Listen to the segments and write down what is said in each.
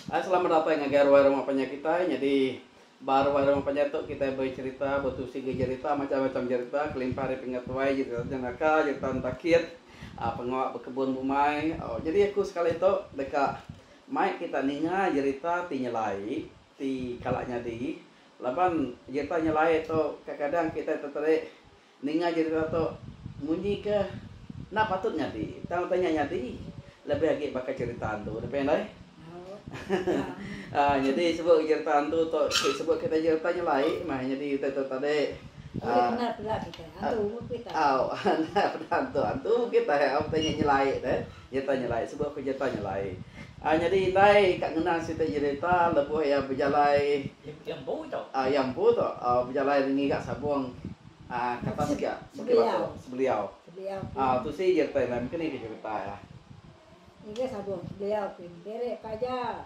Hai selamat datai ngagai ruai rumah panjai kitai nyadi ba ruai rumah panjai tu kitai becerita betusi enggau jerita macam macam jerita kelimpah ari penga tuai jerita jenaka jerita entakit aaa pengawa bekebun bumai au nyadi aku sekali tu deka mai kita ninga jerita ti nyelai ti kala nyadi laban jerita nyelai tu kadang kadang kitai teterik Ninga jerita tu, munyi ke enda patut nyadi tang utai nya nyadi, lebih agi baka jerita hantu tu pia indai. Aa nyadi sebut ke jerita hantu tu ti sebut kitai jerita nya lai meh nyadi utai tu tadi. Aa. Au enda peda hantu hantu kitai. Au enda peda hantu hantu kitai au utai nya nyelai deh. Nyereta nyelai suba aku nyereta nyelai. Ai nyadi indai ka ngena siti nyereta lebuh iya bejalai. Iya empu tu. Ah iya empu tu bejalai ngiga sabong ah ke atas ga Bukit Batu Sebeliau. Sebeliau pun. Ah tu si nyereta indai mungkin iya ke nyereta iya. Ngiga sabong Sebeliau pun. Diri pelajar.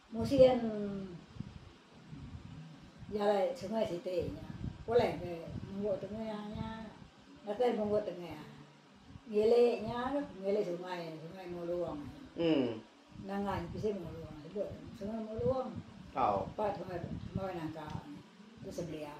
Musin jalai sungai siti nya pulai ke munggu tengah nya datai munggu tengah ngili nya tu ngili sungai sungai Muluong nengah nya bisi Muluong sebe sungai Muluong empat sungai nangka tu sebeliau.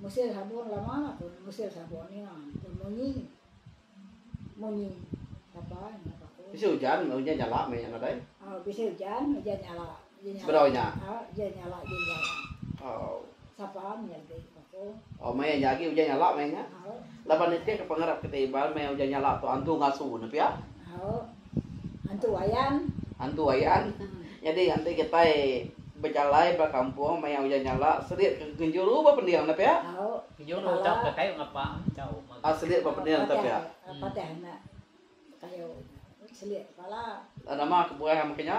Musil sabon lama pun musil sabon iya tu munyi munyi tapa nya paku. Bisi ujan ujan nyala meh iya nadai. Oh bisi ujan ujan nyala. Sebedau nya. Oh ujan nyala ujan nyala. Oh. Sapa nya agi paku. Oh maya nya agi ujan nyala meh nya. Oh. Laban iti ke pengarap kita Iban maya ujan nyala tu antu ngasu ne pia. Oh. Antu Wayan. Antu Wayan. Nyadi nganti kitai bejalai ba kampung maya ujan nyala serit ke genjuru ba pending enda pia? Genjuru udah ke kayu ngapa enggau mega. Ah serit ba pending enda pia? Patih enda kayu serit kepala. Nama kebuah mega nya?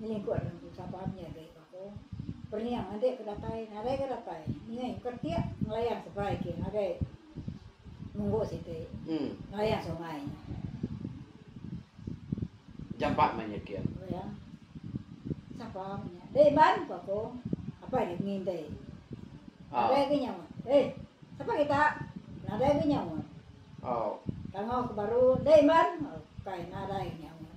Ninga ikut nya empu sapa ami agi baka perniang andi ke datai nadai ga datai ninga ikut keretik ngelayan seberai agi ngagai munggu siti ngelayan sungai nya. Jampat meh nya kin. Oh ya. Sapa meh nya. Deh Iban ku aku. Apai deh ngintai. Nadai agi nya meh. Eh sapa kita? Nadai agi nya meh. Tangau ke baru deh Iban. Kai nadai agi nya meh.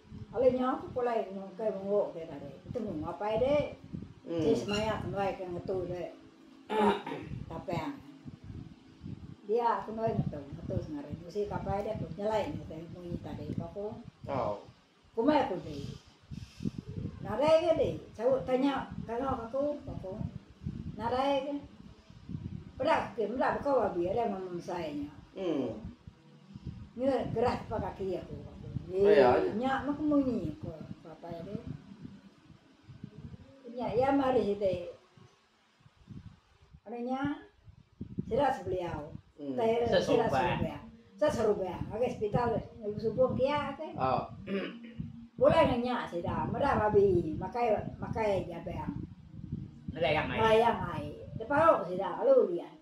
Alai nyau ke pulai nyungkai menguk ke tadi. Betemu apai dek. Enti semaya kenduai ke ngetu de ba tapang. Dia kenduai ngetu, ngetu sengari. Musi ke apai dek tu nyelai nya te munyi tadi ba ku. Tau. Kumbai ku di. Nadai ke di saut tanya kangau ke aku ba ku. Nadai ke. Peda ke meda bekaul abi ari mama mesai nya. Nyuai gerah ke ba kaki aku. Ye, nya meh ke munyi ko bapa iya deh. Nya iya mari siti anu nya sila sebeliau. Hmm. Tai sila serubah. Sila serubah. Ngagai hospital ibu subung kia ke. Oh. Pulai nang nya sida meda babi makai makai jabang. Meda yang ai. Meda yang ai. Depau sida lalu lian.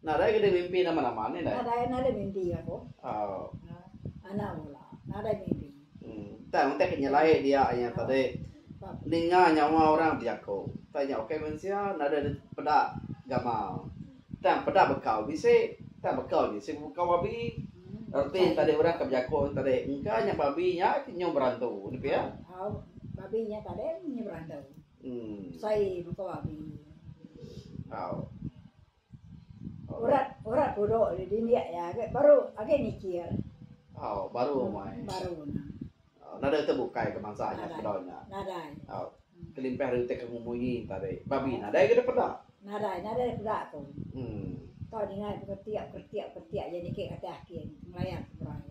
Nadai nadai mimpi nama nama ne indai. Tang utai ke nyelai dia inya tadi ninga nyawa orang bejaku tang inya ukai mensia nadai dep peda gamal tang peda bekau bisi tang bekau ji si bekau babi reti tadi orang ke bejaku tadi engka nya babi nya ke nyau berantu ne pia. Sai muka babi. Urat urat pudo di dindik iya agi baru agi nikir. Baru nya. Nadai utai bukai ke bansa nya sepedau nya. Nadai. Kelimpah ari utai ke ngumunyi tadi. Babi nadai ke dipeda. Nadai nadai dipeda tu. Tau dinga dipeketiak ketiak ketiak iya niki kati ake ngelayar ke perai.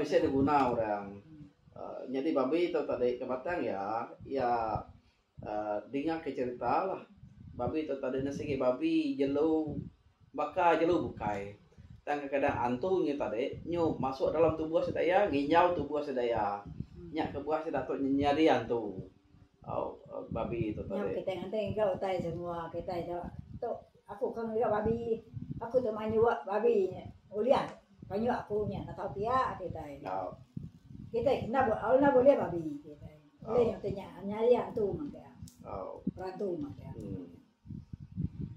Bisi diguna orang nyadi babi tu tadi ke batang iya, iya dinga ke cherita lah. Babi tu tadi ne sigi babi jelu baka jelu bukai. Tang kadang kadang antu nyi tadi nyu masuk dalam tubuh sida iya nginjau tubuh sida iya. Nya kebuah sida tu nyadi antu uhh babi tu tadi. Kayuh aku nya enda tau pia ati utai. Kitai enda enda bulih babi kitai. Ulih nya utai nya nya iya entu mah pia. Perantu mah pia.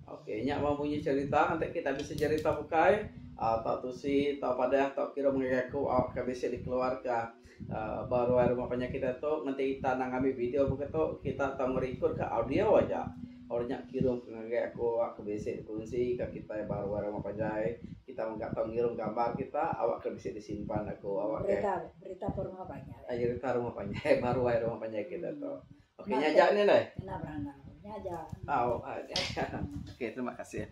Okey nya mah bunyi cerita enti kita bisi cerita bukai tau tusi tau padah tau kira menggai aku au ka bisi dikeluarka. Ba ruai rumah panyakit diatu ngenti ita endang ngambi video mega tu kita tau ngerikod ka audio aja. Orang nya kirum ka ngagai aku, aku bisi bekunsi ka kitai ba ruai rumah panjai. Kita mega tau ngirum gambar kita awak ke bisi disimpan aku awak ke Berita ba rumah panjai. Aja berita rumah panjai ba ruai rumah panjai kita tu. Okey nya aja ni deh. Kena berandau. Nya aja. Au. Okey terima kasih.